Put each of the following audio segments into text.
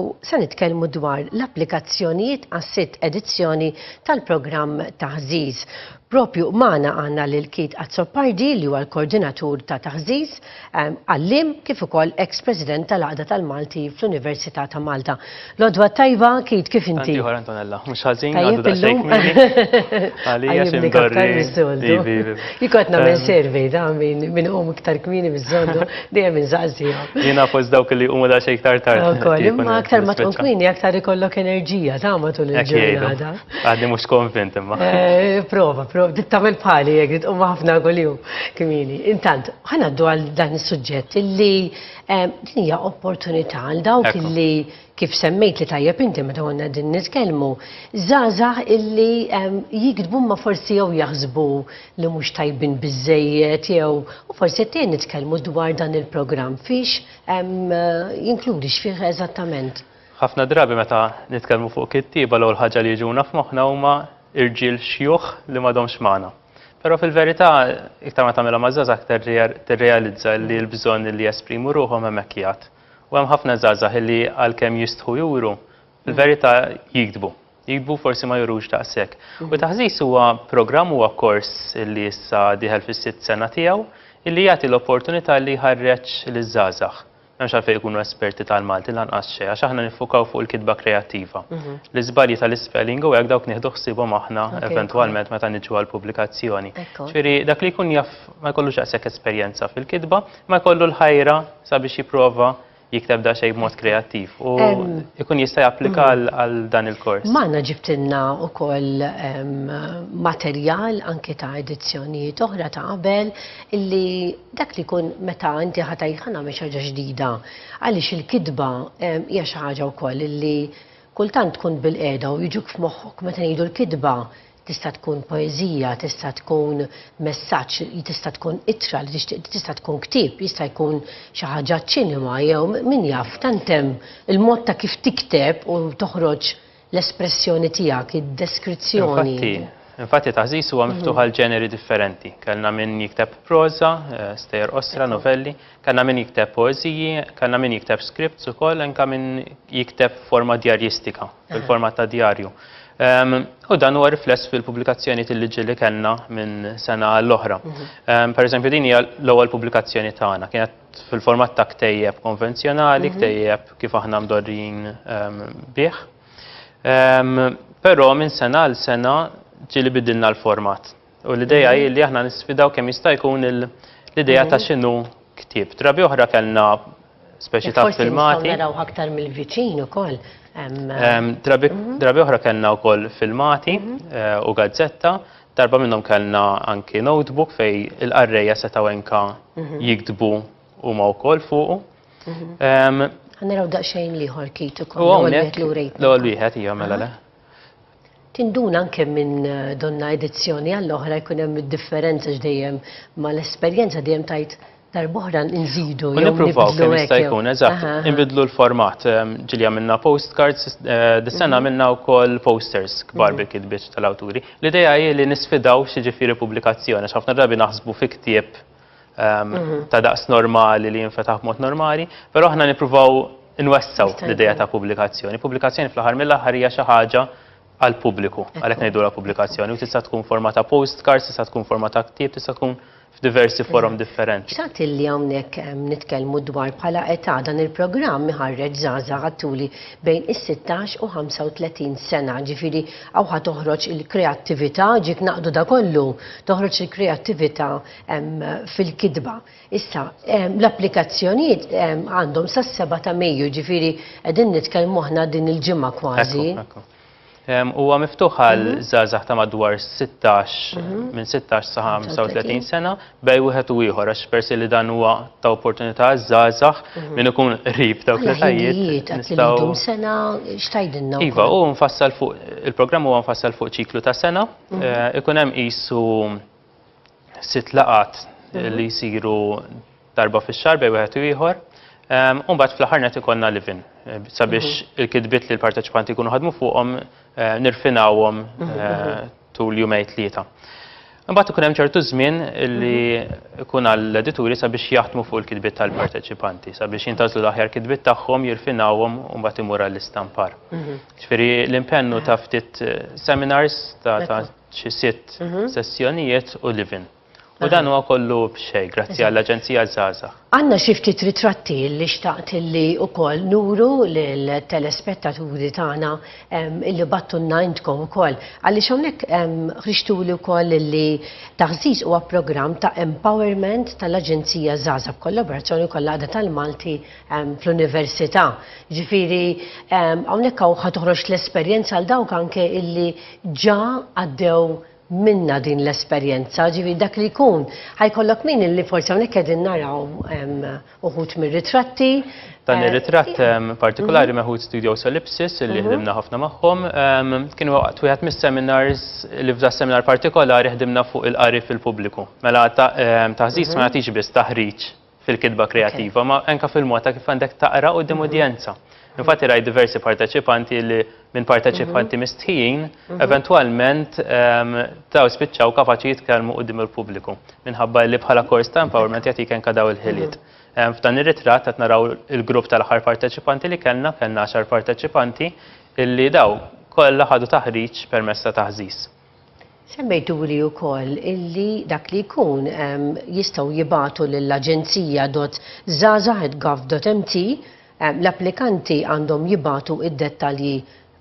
u se nitkellmu dwar l-applikazzjonijiet għas-sitt edizzjoni tal-programm Taħżiż. Propju magħna għandna lil Keith Azzopardi li huwa l-Koordinatur ta' Taħżiż, għalliem kif ukoll eks President tal-Għaqda tal-Malti fl-Università ta' Malta. Lodwa tajba, Keith kif inti? Ieħor Antonella, mhux ħażin għadu daqsxejn Għalija xi mdorri. Jikotna minn survey ta' minn hum iktar kmieni miż-żondu. Dejjem inżaqsija. Jiena fost dawk li huma da xejn iktar tard. Ukoll, imma aktar ma tkun kmini, aktar ikollok enerġija ta' matul il-ġurnata. Għadni mhux konvint imma. Eh, prova, prova, tittamel bħali jekk tqum ħafna kuljum kmini. Intant, ħanaddu għal dan is-suġġett li eh, din hija opportunità għal dawk li kif semmejtli tajjeb inti meta konna qegħdin nitkellmu, żgħażagħ illi jiktbu imma forsi jew jaħsbu li mhux tajbin biżżejjed jew u forsi qed tgħin nitkellmu dwar dan il-programm fiex jinkludi x'fih eżattament. Ħafna drabi meta nitkellmu fuq kittieba l-ewwel ħaġa li jiġuna f'moħħna huma irġiel xjuħ li m'għadhomx magħna. Però fil-verità iktar ma tagħmilha maż-żgħażagħ aktar tirrealizza li l-bżonn li jesprimu ruħhom hemmhekk jgħadd. U hemm ħafna żgħażagħ illi għalkemm jistħu juru, fil-verità jigdbu. Jigdbu forsi ma jurux daqshekk. U Taħżiż huwa programm huwa kors illi issa dieħel fis-sitt sena tiegħu illi jagħti l-opportunità li jħarreġ liż-żgħażagħ. M'hemmx għalfejn ikunu esperti tal-Malti lanqas xejn għax aħna niffukaw fuq il-kitba kreattiva. L-iżbalji tal-ispelling u hekk dawk nieħdu ħsiebhom aħna eventwalment meta niġu għall-pubblikazzjoni. Ġifieri dak li jkun jaf ma jkollux daqshekk esperjenza fil-kitba, ma jkollu l-ħajra sabiex jipprova jikteb da xejn b'mod kreattiv u jkun jista' japplika mm. għal dan il-kors. Magħna ġibtilna wkoll materjal anke ta' edizzjonijiet oħra ta' qabel illi dak li jkun meta inti ħatajt ħana mhix ħaġa ġdida għaliex il-kitba hija xi ħaġa wkoll illi kultant tkun bil-qeda u jiġuk f'moħħok meta ngħidu l-kitba Tista' tkun poeżija, tista' tkun messaġġ, tista' tkun ittra li tixtieq, tista' tkun ktieb, jista' jkun xi ħaġa ċinema jew min jaf tant hemm il-mod ta' kif tikteb u toħroġ l-espressjoni tiegħek, id-deskrizzjoni. Infatti, infatti Taħżiż huwa miftuħ għal ġeneri differenti. Kellna min jikteb proża, stejjer qosra, novelli. Kellna min jikteb poeżiji, kellna min jikteb scripts ukoll, anke min jikteb forma djarjistika, fil-format ta' djarju. Ehm, u dan huwa rifless fil-pubblikazzjoni tal-liġi li kellna minn sena għall-oħra. Mhm. Ehm, per eżempju, din hija l-ewwel pubblikazzjoni tagħna, kienet fil-format ta' ktejjeb konvenzjonali, mhm. ktejjeb kif aħna mdorrin ehm, bih. Però minn sena għal sena ġili bidilna l-format. U l-ideja hi li aħna nisfidaw kemm jista' jkun l-ideja ta' x'inhu ktieb. Drabi oħra kellna speċi ta' filmati. Forsi naraw aktar mill-viċin ukoll. Drabi oħra kellna wkoll filmati u gazzetta. Darba minnhom kellna anki notebook fej il-qarrejja setgħu enka jiktbu huma wkoll fuqu. Naraw daqsxejn liħor kit ukoll. L-ewwel wieħed hija mela le. Tinduna anke minn donna edizzjoni għall-oħra jkun hemm id-differenza x'dejjem ma l-esperjenza dejjem tgħid darb'oħra nżidu jew nibdlu kemm jista' jkun eżatt. Inbidlu l-format. Ehm, ġilja minna postcards, eh, dis-sena mhm. minna wkoll posters kbar mhm. bil-kitbiet tal-awturi. L-idea hi li nisfidaw xi ġifieri pubblikazzjoni, x'ħafna drabi naħsbu fi ktieb ta' daqs normali li jinfetaħ b'mod normali, però aħna nippruvaw nwessaw l-idea ta' pubblikazzjoni. Pubblikazzjoni fl-aħħar mill-aħħar hija xi ħaġa għal pubbliku, għalhekk ngħidulha pubblikazzjoni u tista' tkun forma ta' postcards, tista' tkun forma ta' ktieb, tista' tkun f'diversi forom differenti. X'għad illi hawnhekk nitkellmu dwar bħala età dan il-programm iħarreġ żgħażagħ għattuli bejn is-16 u 35 sena, ġifieri hawn ħa toħroġ il-kreattività, ġiet naqdu da kollu, toħroġ il-kreattività fil-kitba. Issa, l-applikazzjonijiet għandhom sas-seba' ta' Mejju, jiġifieri qegħdin nitkellmu aħna din il-ġimgħa kważi. Huwa miftuħ għal żgħażagħ ta' madwar 16 minn 16 sa 35 sena bej wieħed u ieħor għax persi li dan huwa ta' opportunità għaż-żgħażagħ min ikun qrib dawk l-ħajjiet. Nistgħu sena x'tgħidilna? Iva, hu mfassal fuq il-programm huwa mfassal fuq ċiklu ta' sena, ikun hemm qisu sitt laqat mhm. li jsiru darba fix-xahar bej wieħed u ieħor. Ehm, u mbagħad fl-aħħar net ikollna livin eh, sabiex mhm. il-kidbiet li l-parteċipanti jkunu ħadmu fuqhom eh, nirfinawhom mhm, eh, tul jumej tlieta. Mbagħad ikun hemm ċertu żmien li jkun għall-edituri sabiex jaħdmu fuq il-kidbiet tal-parteċipanti, sabiex jintażlu l-aħjar kidbiet tagħhom, jirfinawhom u mbagħad imur għall-istampar. Ġifieri l-impennu ta' ftit seminars ta' xi sitt sessjonijiet u live-in. U dan huwa kollu b'xejn grazzi għall-Aġenzija Żgħażagħ. Għandna xi ftit ritratti li xtaqt li wkoll nuru lill-telespettaturi tagħna li bagħttulna intkom ukoll. Għaliex hawnhekk ħriġtuli wkoll li Taħżiż huwa programm ta' empowerment tal-Aġenzija Żgħażagħ b'kollaborazzjoni wkoll l-Għaqda tal-Malti fl-Università. Jiġifieri hawnhekk hawn ħa toħroġ l-esperjenza għal dawk anke li ġa għaddew minnha din l-esperjenza, ġifieri dak li jkun ħa jkollok min illi forsi hawnhekk qegħdin naraw uħud mir-ritratti. Dan ir-ritratt partikolari mhm. meħud Studio Solipsis illi mhm. ħdimna ħafna magħhom. Kienu waqt wieħed mis-seminars li f'da seminar partikolari ħdimna fuq il-qari fil-pubbliku. Mela taħżiż mhm. ma nagħtix biss taħriġ fil-kitba kreattiva, ma anka fil-mod ta' kif għandek taqra qudiem mhm. udjenza. Infatti rajt diversi parteċipanti li minn parteċipanti mhm. mistħijin, mhm. eventualment ehm, taw spiċċaw kapaċi jitkellmu qudiem il-pubbliku. Minħabba li bħala kors ta' empowerment jagħtik anka daw il-ħiliet. Ehm, f'dan ir-ritratt qed naraw il-grupp tal-aħħar parteċipanti li kellna, kellna 10 parteċipanti illi daw kollha ħadu taħriġ permessa ta' taħżiż. Semmejtuli wkoll illi dak li jkun jistgħu jibagħtu lill-Aġenzija dott Żgħażagħ at Gov dott MT l-applikanti għandhom jibagħtu d-dettalji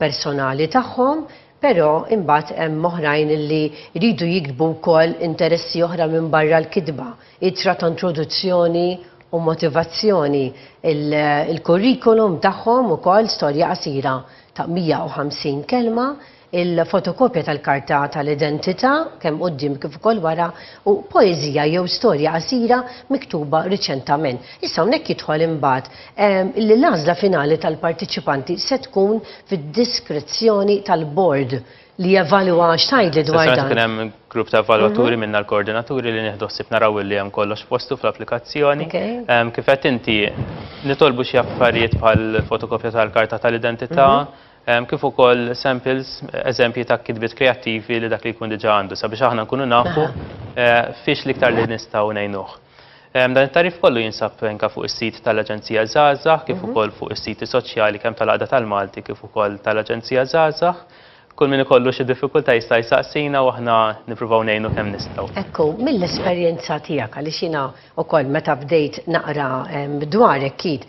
personali tagħhom però imbagħad hemm oħrajn illi jridu jiktbu wkoll interessi oħra minbarra l-kitba, ittra ta' introduzzjoni u motivazzjoni, il-kurrikulum tagħhom ukoll, storja qasira ta' 150 kelma, il-fotokopja tal-karta tal-identità, kemm quddiem kif ukoll wara, u poeżija jew storja qasira miktuba riċentament. Issa hawnhekk jidħol imbagħad li l-għażla finali tal-parteċipanti se tkun fid-diskrezzjoni tal-bord li jevalwa x'tgħidli dwar dan. Sessjoni se tkun hemm grupp ta' evalwaturi minna l-koordinaturi li nieħdu ħsieb naraw li hemm kollox f'postu fl-applikazzjoni. Kif qed inti nitolbu xi affarijiet bħal fotokopja tal-karta tal-identità, kif ukoll samples, eżempji ta' kitbiet kreattivi li dak li jkun diġà għandu sabiex aħna nkunu nafu eh, fiex l-iktar li nistgħu ngħinuh. Dan it-tarif kollu jinsab anka fuq is-sit tal-Aġenzija Żgħażagħ kif mhm. ukoll fuq is-siti soċjali kemm tal-Għaqda tal-Malti kif ukoll tal-Aġenzija Żgħażagħ kull min ikollu xi diffikultà jista' jsaqsina u aħna nippruvaw ngħinu kemm nistgħu. Ekku, mill-esperjenza tiegħek għaliex jiena wkoll meta bdejt naqra dwarek kid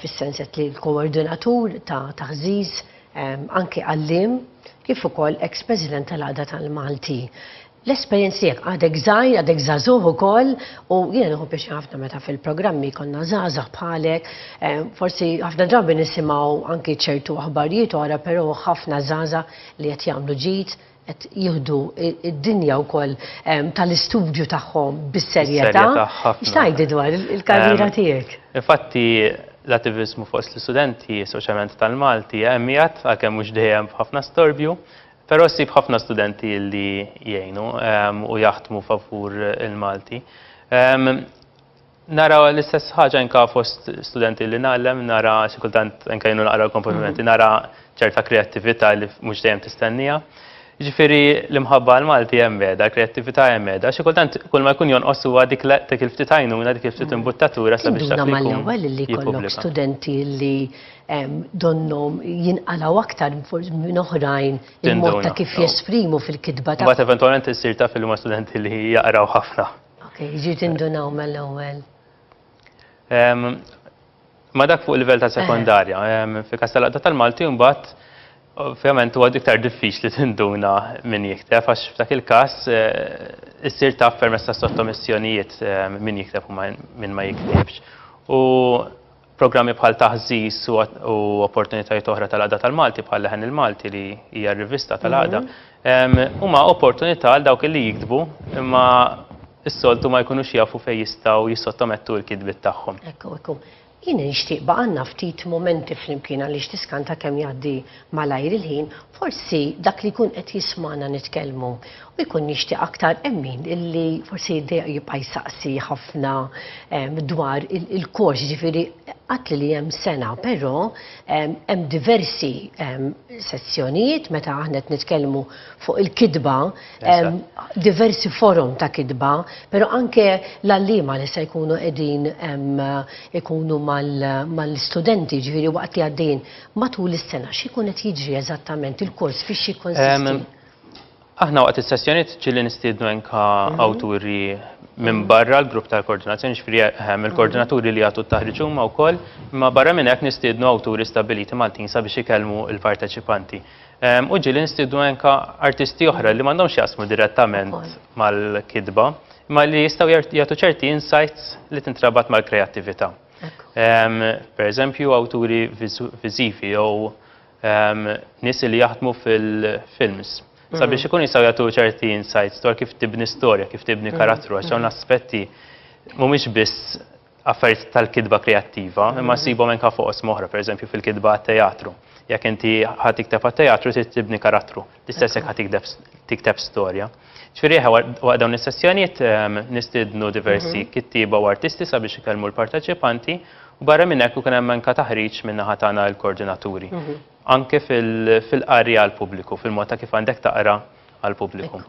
fis-sens qed li l-koordinatur ta' taħżiż anke għalliem kif ukoll eks President tal-Għaqda tal-Malti. L-esperjenz tiegħek għadek żgħir, għadek żagħżugħ ukoll u jiena nieħu pjaċi ħafna meta fil-programmi konna żgħażagħ bħalek. Forsi ħafna drabi nisimgħu anki ċertu aħbarijiet oħra, però ħafna żgħażagħ li qed jagħmlu ġid, qed jieħdu d-dinja wkoll tal-istudju tagħhom bis-serjetà. X'tgħidli dwar il-karriera tiegħek? Infatti, l-attiviżmu fost l-istudenti, speċjalment tal-Malti, hemm qiegħed, għalkemm mhux dejjem b'ħafna storbju, però ssib ħafna studenti li jgħinu u jaħdmu favur il-Malti. Nara l-istess ħaġa anka fost studenti li nagħlem, nara xi kultant anka jienu naqra l-komponimenti, nara ċerta kreattività li mhux dejjem tistennija. Ġifieri l-imħabba għal Malti hemm qiegħda, l-kreattività hemm qiegħda, xi kultant kull ma jkun jonqos huwa dik dik il-ftit għajnuna, dik il-ftit imbuttatura sabiex dak li jkun. Induna mal-ewwel li jkollok studenti li donnhom jinqalgħu aktar minn oħrajn il-mod ta' kif jesprimu fil-kitba tagħhom. Imbagħad eventwalment issir taf li huma studenti li jaqraw ħafna. Ok, jiġi tindunaw mill-ewwel. Ma dak fuq il-livell ta' sekondarja, fi kas tal-għadda tal-Malti mbagħad Ovvjament huwa iktar diffiċli tinduna min jikteb għax f'dak il-każ eh, issir taf permezz ta' sottomissjonijiet eh, min jikteb u min ma jiktibx. U Programmi bħal Taħżiż u opportunitajiet oħra tal-Għaqda tal-Malti bħal Leħen il-Malti li hija r-rivista tal-Għaqda huma opportunità għal dawk li jiktbu imma s-soltu ma jkunux jafu fejn jistgħu jissottomettu l-kitbiet tagħhom. Ekku, ekku. Jien nixtieq baqanna ftit momenti flimkien għaliex tiskanta kemm jgħaddi Malajr il-ħin forsi dak li jkun qed jismagħna nitkellmu u jkun jixtieq aktar hemm min li forsi jibqa' jsaqsi ħafna dwar il-kors, ġifieri qatt li hemm sena, però hemm diversi sezzjonijiet meta aħna qed nitkellmu fuq il-kitba, diversi forom ta' kitba, però anke l-għalliema li se jkunu qegħdin ikunu mal-istudenti, ġifieri waqt li għaddejjin. Matul is-sena x'ikun qed jiġri eżattament il-kors fiex jikkonsisti? Aħna waqt is-sessjonijiet ġieli nistiednu enka mhm. awturi minn mhm. barra l-grupp tal-koordinazzjoni xfri ehm, il-koordinaturi li jagħtu t-taħriġ huma wkoll, imma barra minn hekk nistiednu awturi stabiliti Maltin sabiex ikellmu l-parteċipanti. Ehm, u ġieli nistiednu enka artisti oħra li m'għandhomx jasmu direttament mal-kidba, imma li jistgħu jagħtu ċerti insights li tintrabat mal-kreattività. Per eżempju, awturi viżivi jew nies li jaħdmu fil-films. Mhm. Sabiex ikun jistgħu jagħtu ċerti insights dwar kif tibni storja, kif tibni mhm. karattru, għax hawn mhm. aspetti mhumiex biss affarijiet tal-kidba kreattiva, imma sibhom anke fuq osmoħra, pereżempju fil-kidba teatru. Jekk inti ħadd ikteb teatru trid tibni karattru. L-istess jekk tikteb storja. Ġifieri waqt dawn is-sessjonijiet ehm, nistidnu diversi mhm. kittieba u artisti sabiex ikellmu l-parteċipanti u barra minn hekk ikun hemm anke taħriġ minn naħa tagħna l-koordinaturi. Mhm. Anke fil-qari għall-pubbliku, fil-mod ta' kif għandek taqra għall-pubbliku.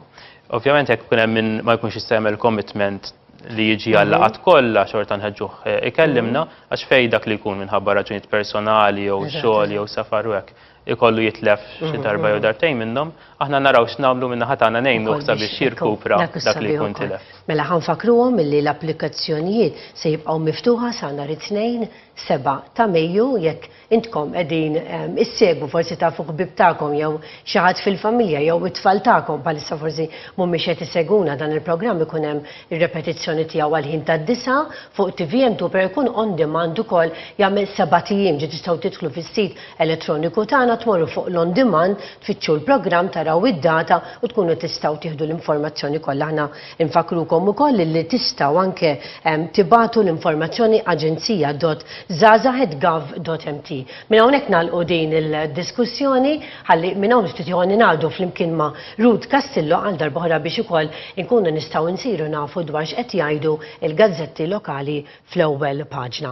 Ovvjament jekk ikun hemm minn ma jkunx jista' jagħmel commitment li jiġi mhm. għallaqat kollha xorta nħeġġuh eh, ikellimna għax fej dak li jkun minħabba raġunijiet personali jew xogħol jew safar u hekk ikollu jitlef xi mhm, darba jew mhm. dartejn minnhom, aħna naraw x'nagħmlu minn naħa tagħna ngħinu sabiex jirkupra dak li jkun tilef. Mela ħanfakruhom milli l-applikazzjonijiet se jibqgħu miftuħa sa nhar it-tnejn seba' ta' Mejju jekk intkom qegħdin ehm, issegwu forsi tafu ħbib tagħkom jew xi ħadd fil-familja jew it-tfal tagħkom bħalissa forsi mhumiex qed iseguna dan il-programm ikun hemm ir-repetizzjoni tiegħu għal ħin tad-disa fuq TVM tu per ikun on demand ukoll jagħmel seba' tijiem ġi tistgħu tidħlu fis-sit elettroniku tagħna tmorru fuq l-on demand tfittxu l-programm taraw id-data u tkunu tistgħu tieħdu l-informazzjoni kollha. Aħna nfakkrukom ukoll li tistgħu anke tibagħtu l-informazzjoni aġenzija.żgħażagħ@gov.mt. Minn hawnhekk nagħlqu din il-diskussjoni ħalli minn hawn ftit ieħor ningħaqdu flimkien ma' Ruth Castillo għal darba oħra biex ukoll inkunu nistgħu nsiru nafu dwar x'qed jgħidu l-gazzetti lokali fl-ewwel paġna.